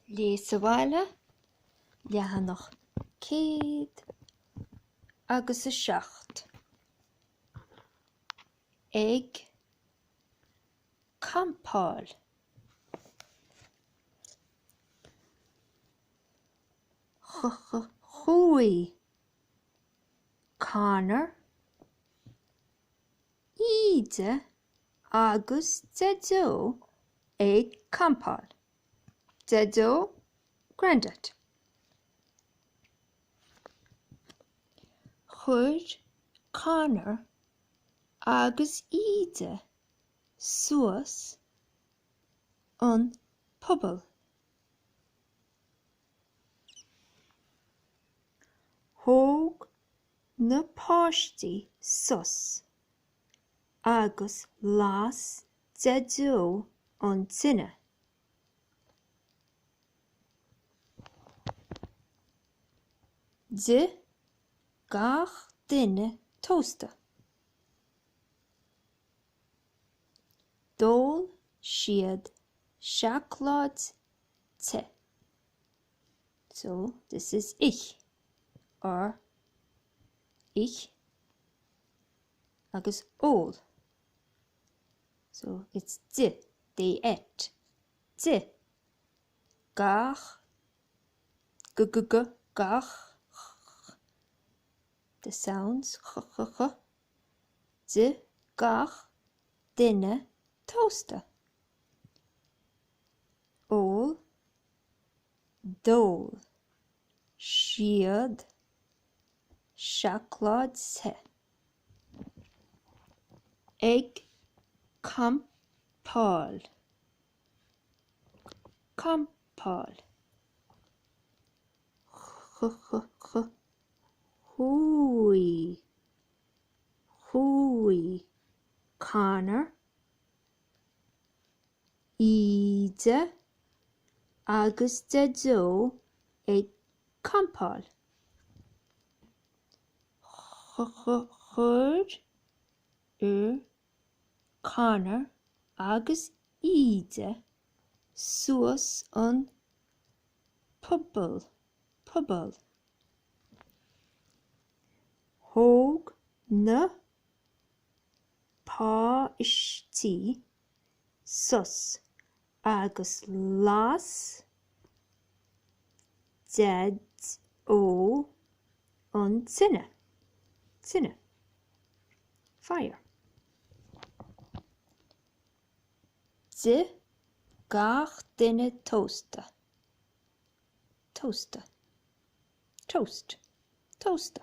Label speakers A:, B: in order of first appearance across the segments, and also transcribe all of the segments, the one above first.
A: Léigh sa bhaile, leathanach céad agus a seacht. Ag campáil. Chuaigh Conor, Íde Agus Daideo ag campáil. Daideo, Grandad. Chuir Conor agus Íde suas an puball. Thóg na páistí sos. agus las Daideo an tine. D'ith gach duine tósta. D'ól siad seacláid te. So this is ith or ith agus ól. So, it's d'ith, they ate. D'ith gach, g-g-g, gach, ch-ch, the sounds, ch-ch-ch, d'ith gach duine tósta. Ól, d'ól, siad, seacláid te ag campáil campáil chuaigh chuaigh Conor Íde agus Daideo ag campáil. Chuir Conor agus Íde suas an puball. Thóg na páistí, sos, agus las Deaideo an tine, tine, fire. D'ith gach duine tósta, tósta, toast, tósta.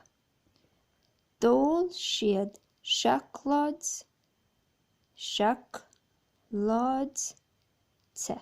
A: D'ól siad seacláid, seacláid te.